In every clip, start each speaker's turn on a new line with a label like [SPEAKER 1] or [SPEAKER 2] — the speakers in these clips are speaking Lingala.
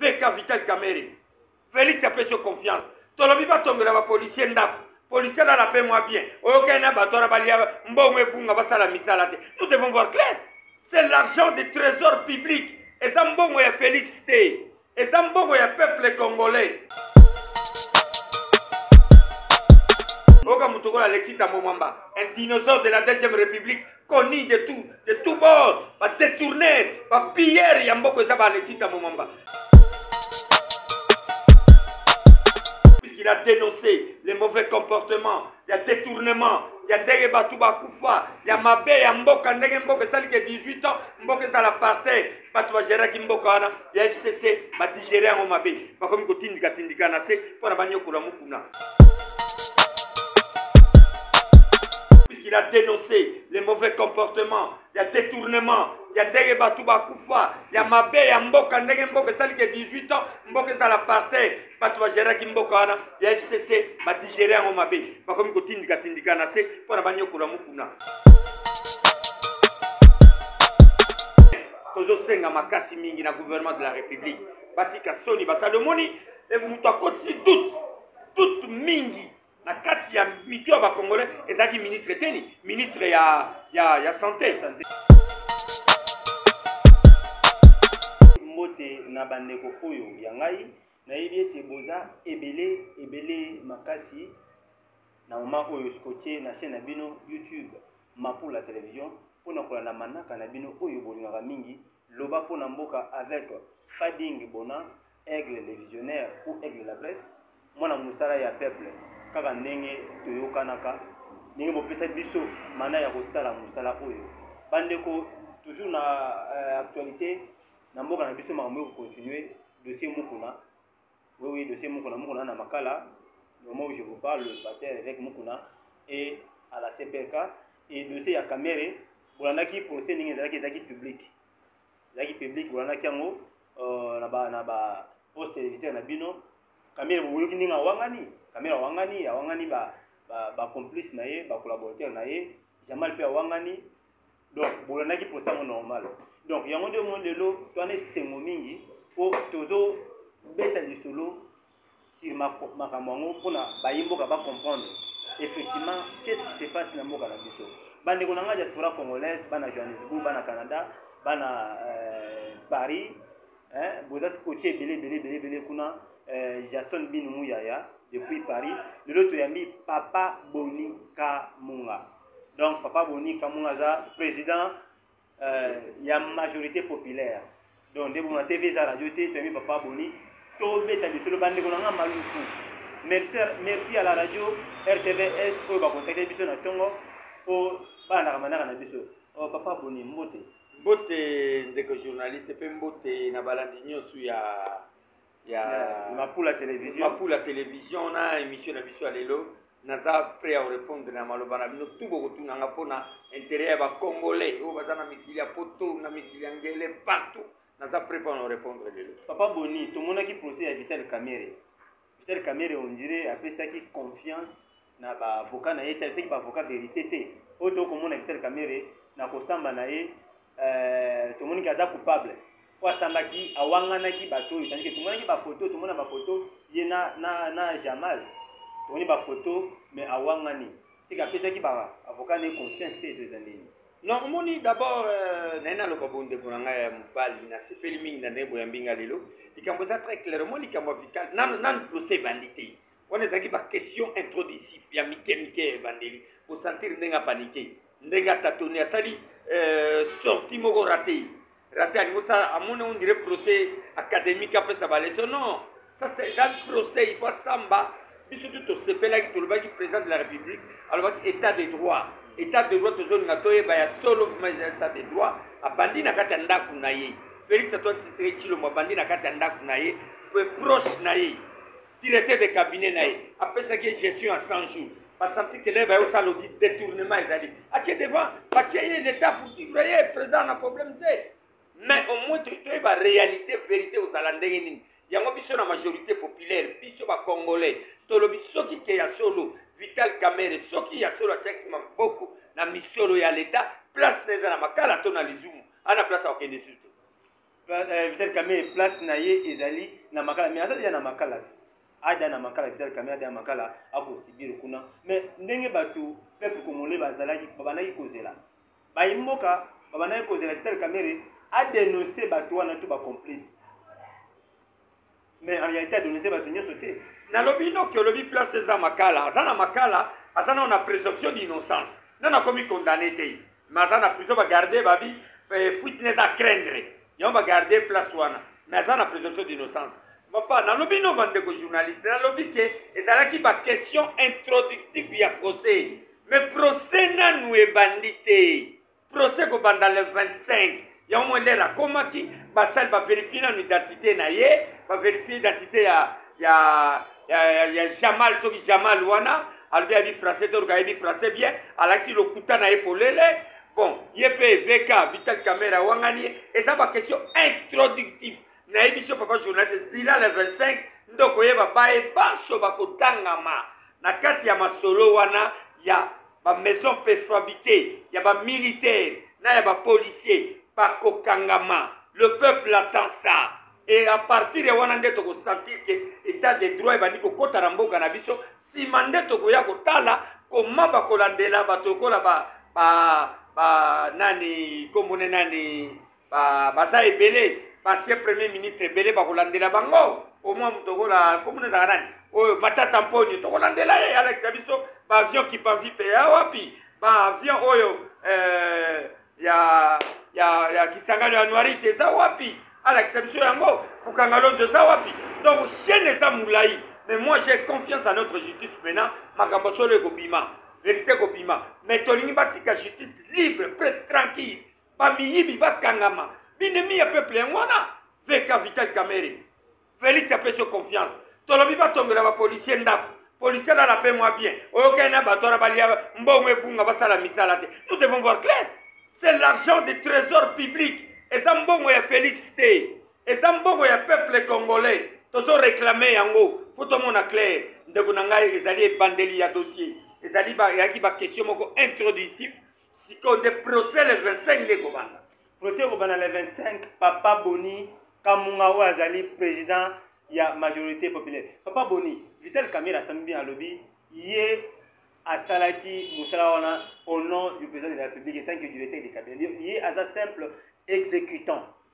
[SPEAKER 1] veka vital kamere felix apesi yo confiance tolobi batongela bapolisier ndako policier alala mpe mwa bien oyokani na bato wana balia mbongo ebunga basala misala te nous devons voir clair c'est l'argent de trésor public eza mbongo ya felix te Eza mbongo ya peuple congolais. Oka Mutoko Alexis Tambo Mwamba, un dinosaure de la deuxième république, connu de tout, de tout bord, ba détourneur, ba pilleur ya mboko eza ba Alexis Tambo Mwamba. Puisqu'il a dénoncé les mauvais comportements, il y a détournement, il y a ndenge batu bakufa, il y a mabe ya mboka, ndenge mboka esali ke 18 ans, mboka ezala parterre, bato bageraki mboka wana ya fcc badigere yango mabe bakomi kotindikatindika na se mpo na banyokola mokuna puisqu'il a dénoncé les mauvais comportements ya détournement ya ndenge bato bakufa ya mabe ya mboka ndenge mboka esali ke 18 ans mboka ezala parter bato bageraki mboka wana ya fcc badigere yango mabe bakomi kotindikatindika na se mpo na banyokola mokuna tozosenga makasi mingi na gouvernement de la république batika soni basali omoni eh, moto akotisi doute doute mingi na kati ya mitu ya bacongolais ezalaki ministre teni ministre ya, ya, ya sante sante
[SPEAKER 2] mbote na bandeko oyo ya ngai nayebi ete boza ebele ebele makasi na moma oyo scotye na chaîne na bino youtube mapula television mpo na kolanda manaka na bino oyo bolingaka mingi Loba mpo na mboka avec Fading Bona, Aigle le visionnaire ou Aigle la presse, mwana mosala ya peuple, kaka ndenge toyokanaka, ndenge bopesa biso mana ya kosala mosala oyo. Bandeko, toujours na euh, actualité, na mboka na biso makambo eko continuer, dossier Mukuna, Oui, oui, dossier Mukuna, Mukuna na Makala, le moment où je vous parle, le pasteur évêque Mukuna est à la CPK et dossier ya Kamere, bolandaki procès ningi ezalaki ezalaki public. Ezalaki public bolandaki yango euh, na ba na ba poste téléviseur na bino. Kamere boyoki ninga wangani, Kamere wangani, awangani ba ba, ba complice na ye, ba collaborateur na ye, Jamal pe awangani, donc bolandaki mposa yango normal donc yango nde omoni lelo twana esengo mingi mpo tozobeta lisolo sur makambo yango mpona bayi mboka bacomprendre effectivement qu'est ce qui se passe na mboka na biso bandeko na ngai diaspora congolaise bana johannesbourg bana canada bana euh, paris boza kotia ebele ebele ebele ebele kuna euh, jason binu muyaya depuis paris lelo toyambi papa boni kamunga donc papa boni kamunga aza président euh, ya majorité populaire donc nde bomona tv eza radio te toyebi papa boni tobeta lisolo bandeko na nga maluku merci, merci à la radio rtvs oyo bakontakte biso na ntongo mpo balandaka manaka na biso oh, papa boni mbote mbote ndeko journaliste
[SPEAKER 1] mpe mbote na balandi nyonso ya ya mapula
[SPEAKER 2] television mapula television
[SPEAKER 1] na émission na biso ya lelo naza prêt ya korépondre na maloba na bino tu bokotunanga mpo na intérêt ya bacongolais oyo baza na mikili ya poto na mikili ya ngele partout naza prêt mpo na korépondre lelo papa boni tomonaki
[SPEAKER 2] procès ya vital kamere vital kamere ondire apesaki confiance na ba avocat na ye te alifaki ba avocat verite te oyo to komona vital kamere na kosamba na ye euh, tomoni ke aza coupable po asambaki awanganaki bato oyo tandike tomonaki bafoto tomona bafoto ye na, na, na jamal tomoni bafoto me awangani tika apesaki ba avocat na ye confiance te to eza ndenge non omoni
[SPEAKER 1] d'abord euh, naye naloba bondeko na ngai ya mobali nasepeli mingi na ndenge boyambi ngai lelo likambo eza très clair omoni likambo ya vital nanu procès ebandi te wana ezalaki baquestion introductif ya mike mike ya ebandeli osantire ndenge apanike ndenge atatoni asali euh, sorti moko rate rate alingi osala amoni ondire procès académique apesa baleso non ça c'est un procès il faut asamba biso tu tosepelaki tolobaki président de la république alobaki état de droit état de droit tozolinga toyeba ya solo vrima eza état de droit abandi na kati ya ndako na ye félix atoine tshisekedi tshilombo abandi na kati ya ndako na ye proche na ye directeur de cabinet na ye apesaki ye gestion ya 100 jours basanti kelele baye osala odi détournement ezali atie devant batie ye l'état pour suivre ye président na problème te mais au moins toyeba réalité vérité ozala ndenge nini yango biso na majorité populaire biso bacongolais tolobi soki ke ya solo vital kamere soki ya solo atiaki maboko na misolo ya leta place na eza na makala to na lizumu ana place akokende susu te Euh,
[SPEAKER 2] vital kamere place na ye ezali na makala mais aza deja na makala te ada na makala vital kamere ada na makala akosibir kuna mais ndenge bato peuple congolais bazalaki babandaki kozela bayi mboka babandaki kozela vital kamere adenonse bato wana to bacomplice mais en réalité adonese bato nyonso te nalobi noki olobi
[SPEAKER 1] place te eza makala aza na makala aza nao na présomption d'innocence nano akomi condamné te mais aza na prison bagarde babi eh, fuite ne eza craindre yango bagarde place wana mais aza na présomption d'innocence papa nalobi no bandeko journaliste nalobi ke ezalaki baquestion introductive ya procès mais procès nanu ebandi te procès ekobanda le 25 yango mwa ndele akomaki basali baverifie nano identité na ye baverifie identité ya, ya, ya, ya, ya jamal soki jamal wana alobi ayebi français toruka ayebi français bien alakisi lokuta na ye polele bon ye mpe eveka vital camera awangani ye eza baquestion introductive nayebi so papa journaliste zila le 25 nde okoyeba baye banso bakotangama na kati ya masolo wana ya ba maison prefabrique ya ba militaire na ya ba policier bakokangama le peuple attend ça et à partir ya wana nde tokosentir ke état de droit ebandi kokɔta na mboka na biso nsima nde tokoya kotala koma bakolandela bato lokola ba, ba, ba nani kombone nani ba baza ebele basie premier ministre ebele bakolandela bango omwa moto okola komona ezaka nani oyo matata mponyo tokolandela ye alakisa biso baavion kipanvipe ya wapi baavion oyo eh, ya ya ya kisangani ya noirite eza wapi alakisa biso yango kokanga lonzo eza wapi donc chaine eza molai mais moi j'ai confiance à notre justice maintenant makambo solo ekobima verité ekobima mais tolingi batika justice libre pre tranquille bamiyibi bakangama binemi ya peuple yango wana veka vital kamere felix apesi yo confiance tolobi batongela bapolisier ndako policier alala mpe mwa bien oyokani na bato wana balia mbongo ebunga basala misala te nous devons voir clair c'est l'argent de trésor public eza mbongo ya felix te eza mbongo ya peuple congolais tozo réclame yango fo tomona clair ndeko na ngai ezali ebandeli ya dossier ezali eyaki baquestion moko introductif sikoyo nde procès le 25 nde ekobanda procès ekobanda le
[SPEAKER 2] 25 papa boni kamunga oyo azali président ya majorité populaire papa boni vital kamere asami bien alobi ye asalaki mosala wana au nom du président de la république etant que directeur de cabinet ye aza simple exécutant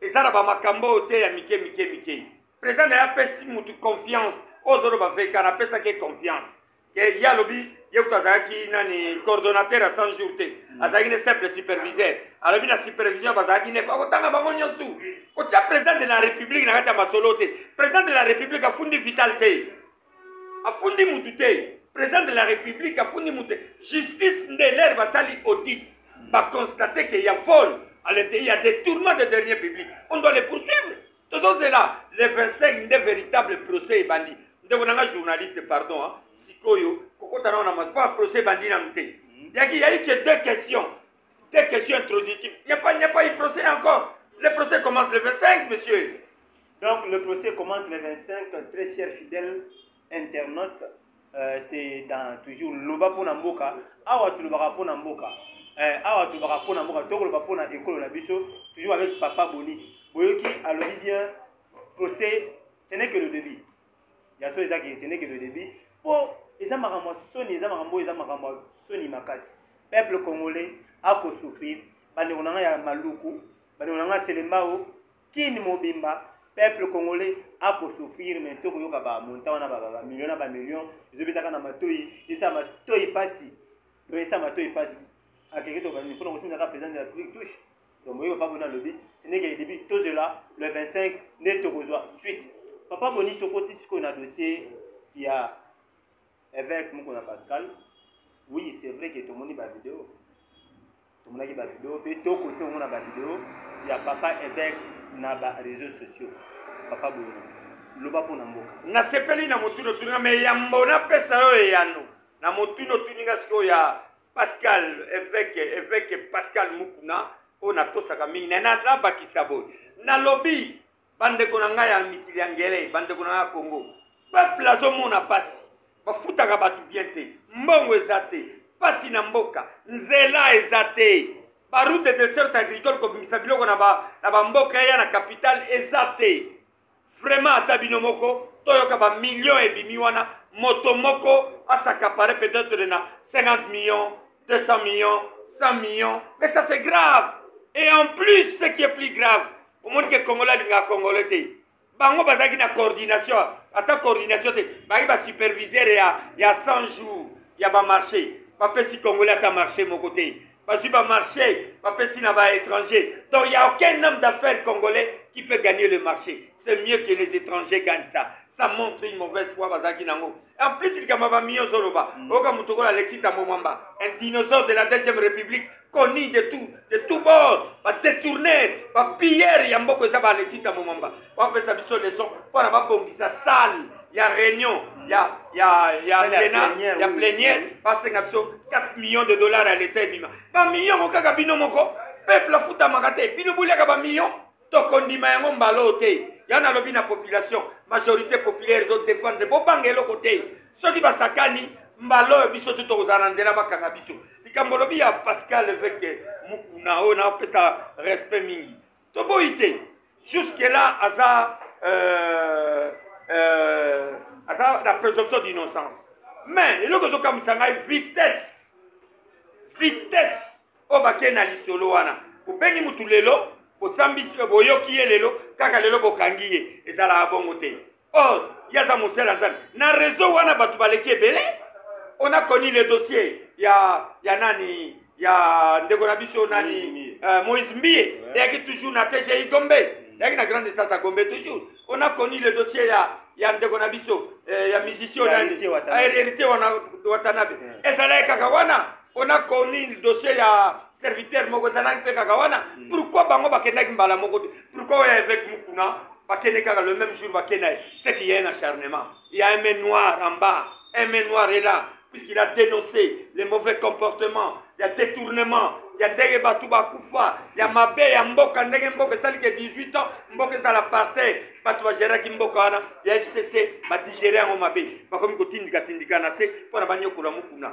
[SPEAKER 1] eza na bamakambo oyo te ya mike mike mike président na ye apesi motu confiance oyo ozoloba veka napesaki ye confiance ke ye alobi ye kutu azalaki nani coordonnateur ya 100 jour te mm. azalaki ne simple superviseur alobi na supervision bazalaki nef akotanga bango nyonso tu kotya président de la république na kati ya masolo te président de la république afundi vital te afundi mutu te président de la république afundi mutu te justice nde lere basali audit baconstate ke ya vol à l'intérieur ya détournement de dernier public on doit les poursuivre tozozela le 25 nde véritable procès ebandi ndeko na nga journaliste pardon hein. sikoyo kokota nao na mpo procès ebandi nanu te yaki yaki ke deux questions Des questions introductives. Il n'y a, pas, a pas eu procès encore. Le procès commence le 25, monsieur. Donc le
[SPEAKER 2] procès commence le 25, très cher fidèle internaute. Euh, c'est dans toujours loba pona mboka awa tulobaka pona mboka euh, awa tulobaka pona mboka tokoloba pona ekolo na biso toujours avec papa boni boyoki alobi bien procès ce n'est que le début ya so ezaki ce n'est que le début mpo eza makambo ya soni eza makambo oyo eza makambo ya soni makasi peuple congolais akosouffrir bandeko na ngai ya maluku bandeko na ngai ya selembao kini mobimba peuple congolais akosouffrir mai to koyoka bamonta wana bamilio na bamillion ezobetaka na matoi esa matoi mpasi esala matoi mpasi akeke tobanini mpona kosimisa kaka président de la république touche donc boyebi papa boni alobi ce n'est que début tozela le 25 nde tokozwa suite papa boni tokoti sikoyo na dossier ya évêque moko na pascal oui c'est vrai que tomoni bavideo tomonaki bavideo mpe tokoki mpe komona bavideo ya papa évêque na baréseaux sociaux papa boni loba mpo na mboka nasepeli na
[SPEAKER 1] motuna otuninga me yambo napesa yo eyano na motuna otuninga sikoyo ya pascal eveke eveke pascal mukuna oyo natosaka mingi naye nabakisa boye nalobi bandeko na ngai ya mikili ya ngele bandeko na ngai ya congo peuple azomona mpasi bafutaka bato bien te mbongo eza te mpasi na mboka nzela eza te baroute de desert agricole kobimisa biloko na bamboka eya na capitale eza te vraiment ata bino moko toyoka ba millions ebimi wana moto moko asakapare peut-être na 50 millions 200 millions 100 millions mais ça c'est grave et en plus ce qui est plus grave omoni ke congolais alingaka congolais te bango bazalaki na coordination ata coordination te bazalaki basuperviseur ya, ya 100 jours ya bamarché bapesi congolais ata marché moko te bazwi ba marché bapesi na ba étranger donc il y a aucun homme d'affaires congolais qui peut gagner le marché c'est mieux que les étrangers gagnent ça ça montre une mauvaise foi bazalaki nango en plus likambo ya bamillion ozoloba mm. oyoka moto okola alexis tambo mwamba un dinosaure de la deuxième république connu de tout de tout bord badétourneur bapilleur ya mboko eza baalexis tambo mwamba bapesa biso leson mpona babongisa salle ya réunion ya ya ya sena ya plenière basenga biso 4 millions de dollars ya leta ebima bamillion ko kaka bino moko peuple afutamaka te bino boliaka bamillion tokondima yango mbala oyo te ya nalobi na population majorité populaire ezodefendre bobanga eloko te soki basakani mbala oyo biso te tokozala na nzela bakanga biso likambo olobi ya pascal eveke mukuna oyo napesa respect mingi toboyi te jusque là aza euh, euh, aza na présomption d'innocence mais eloko ezokamwisa ngai vitesse vitesse oyo bakei na lisolo wana obengi motu lelo osambisi boyoki ye lelo kaka lelo bokangi ye ezalaka bongo te or ye aza mosali ya nzambe na reseau wana bato baleki ebele on a connu le dossier ya ya nani ya ndeko na biso nani uh, moïse mbie eyaki toujours na tgi gombe eyaki na grande instance ya gombe toujours on a connu le dossier ya ya ndeko na biso eh, ya musicien nani hérité wana watanabe ezalaki kaka wana on a connu dossier ya serviteur moko ezalaki mpe kaka wana mm. pourkui bango bakendaki mbala moko te pourkui oyo eveke mokuna bakende kaka le même jour bakenda ye ce qui est un acharnement il y a un main noir en bas un main noir est là puisqu'il a dénoncé les mauvais comportements il y a détournement ya ndenge bato bakufa ya mabe ya mboka ndenge mboka esali ke 18 ans mboka ezala parter bato bageraki mboka wana ya fcc badigere yango mabe bakomi kotindikatindika na se mpo na banyokola mokuna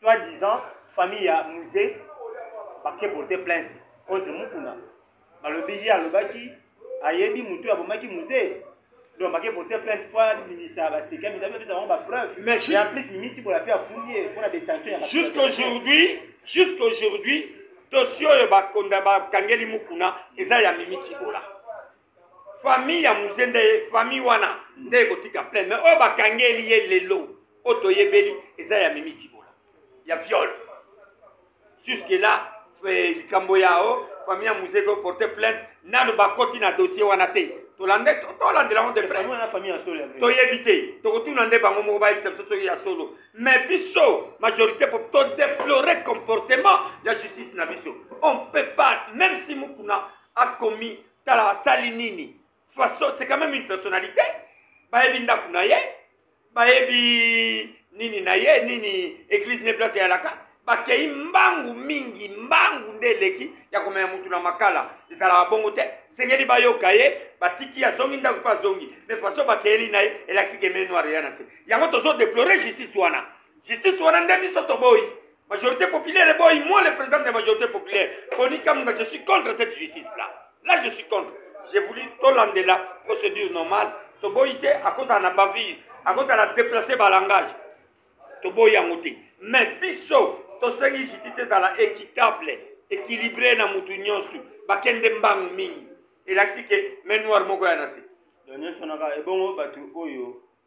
[SPEAKER 2] Soit disant famille ya musée bake porter plainte contre Mukuna. Balobi ye alobaki ayebi moto ya bomaki musée donc bake porter plainte mpo abimisa baseki abimisa bapesa bango bapreuve mais en plus mimiti bola mpe afundi ye mpo na détention ya jusqu'aujourd'hui jusqu'aujourd'hui
[SPEAKER 1] dossier oyo bakangeli Mukuna eza ya mimiti bola famille ya muze nde famille wana nde ekotika plaine mais oyo oh, bakangeli ye lelo oyo oh, toyebeli eza ya mimi tibola ya viole jusque là eh, likambo ya o oh, famille ya muze ko porte plainte nanu bakoti na dossier wana te tolande tolandela yango te toyebi te tokotuna nde bango moko bayebisa biso soki ya solo mais biso majorité po todeplore comportement ya justice na biso on peut pas même si mukuna akomi tala asali nini façon c'est quand même une personnalité bayebi ndako na ye bayebi nini na ye nini église ne place eyalaka bakei mbangu mingi mbangu nde eleki ya komema motu na makala ezalaka bongo te sengeli bayoka ye batiki azongi ndako mpe azongi me faso bakeyeli na ye elakisi ke menoire ya na se yango tozodeplore justice wana justice wana nde biso toboyi Majorité populaire et boy, moi le président de la majorité populaire, Boni Kamunda, je suis contre cette justice-là. Là, je suis contre. J'ai voulu Tolande la procédure normale. Toboïté, à cause de la bavure, à cause de la déplacer par langage. Toboï en moté. Mais biso, to sengi justice dans la équitable, équilibrée dans mutu nyonsu, bakende mbang mingi. Et là, c'est que, mais
[SPEAKER 2] noir
[SPEAKER 1] moko ya nasi. Donc, nyonso
[SPEAKER 2] naka,
[SPEAKER 1] ebongo batu oyo,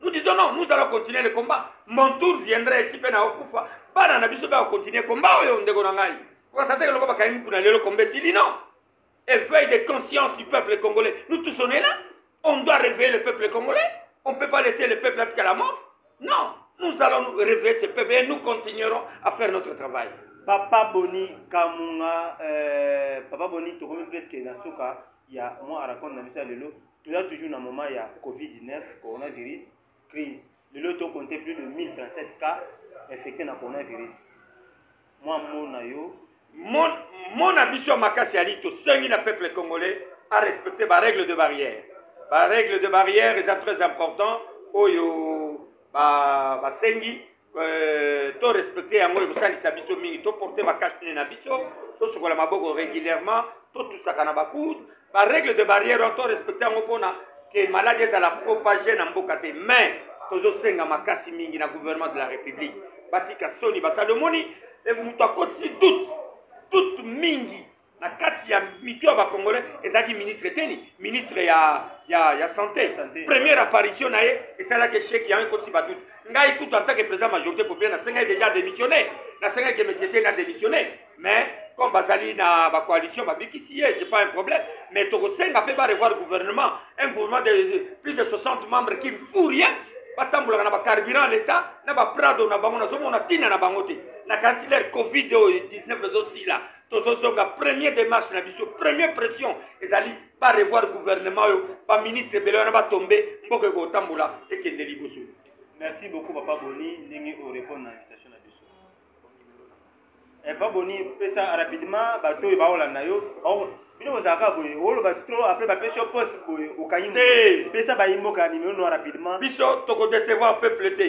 [SPEAKER 1] nous disons non nous allons continuer le combat mon tour viendra esi mpe naokufa bana na biso mpe akocontinue combat oyo ndeko na ngai kokasa te eloko bakangi mokuna lelo komba esili non éveil de conscience du peuple congolais nous tous on est là on doit réveiller le peuple congolais on ne peut pas laisser le peuple atika la mort non nous allons nous réveiller ce peuple et nous continuerons à faire notre travail papa boni
[SPEAKER 2] kamunga euh, papa boni tokomi presque na suka ya mwa arakonde na biso ya lelo Toza toujours na moment ya Covid-19, coronavirus, crise. Lelo to compter plus de 1037 cas infectés na coronavirus. Moi mona yo mon
[SPEAKER 1] mona biso ya makasi ali tosengi na peuple congolais a respecter ba règles de barrière. Ba règles de barrière eza très important oyo basengi ba Euh, to respecte yango ekosalisa biso mingi toporte bakashne na biso tosukola maboko régulièrement totusaka na bakude barègle de barrière wana to respecte yango mpona ke maladi ezala propage na mboka te mais tozosenga makasi mingi na gouvernement de la république batika soni basali omoni eh, moto akotisi doute doute mingi na kati ya mitu ya bacongolais ezalaki ministre teni ministre ya, ya, ya santé, santé. première apparition na ye esalaki echec yango ekotisi badutu ngai kutu en tant que président majorité populaire nasengaki déjà démissionne nasengaki monsieur teni adémissionne mais comme bazali na bacoalition babikisi ye j'ai pas un problème mais tokosenga mpe barevoir gouvernement un gouvernement de plus de 60 membres qui ne fout rien batambolaka na bacarburant leta na baprado na bango nazomona ntina na bango te na kansi leur covid oyo 19 ezosila tozozonga premier démarche na biso premier pression ezali barevoir gouvernement oyo baministre ebele wana batombe mboka ekotambola ekende liboso merci beaucoup
[SPEAKER 2] papa boni ndenge orépondre na invitation na biso eh, papa boni pesa rapidement bato oyo baolanda yo bino bozalaka boye oloba trop apres bapesi yo poste boye okangi te pesa bayimboka nimero noa rapidement biso tokodecevoir
[SPEAKER 1] peuple te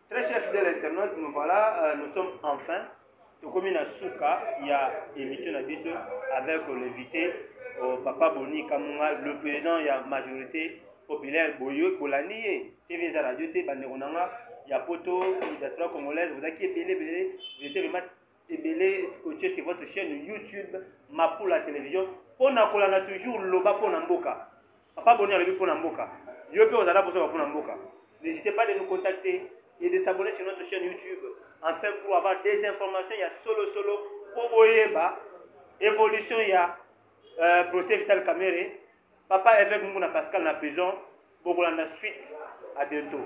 [SPEAKER 1] Très
[SPEAKER 2] cher fidèle internaute, nous voilà, euh, nous sommes enfin tokomi na suka ya émission na biso avec l'invité euh, Papa Boni Kamunga, le président ya majorité populaire boyo bolandi ye TV eza radio te bandeko na nga ya poto diaspora congolaise bozalaki ebele ebele vous étiez vraiment ebele scotche sur votre chaîne youtube mapula télévision mpo na kolanda toujours loba mpo na mboka papa boni alobi mpo na mboka yo mpe ozala kosoba mpo na mboka n'hésitez pas de nous contacter et de s'abonner sur notre chaîne youtube enfin pour avoir des informations ya solo solo mpo boyeba évolution ya euh, procès vital camere papa évêque munguna pascal na prison bokolanda suite à bientôt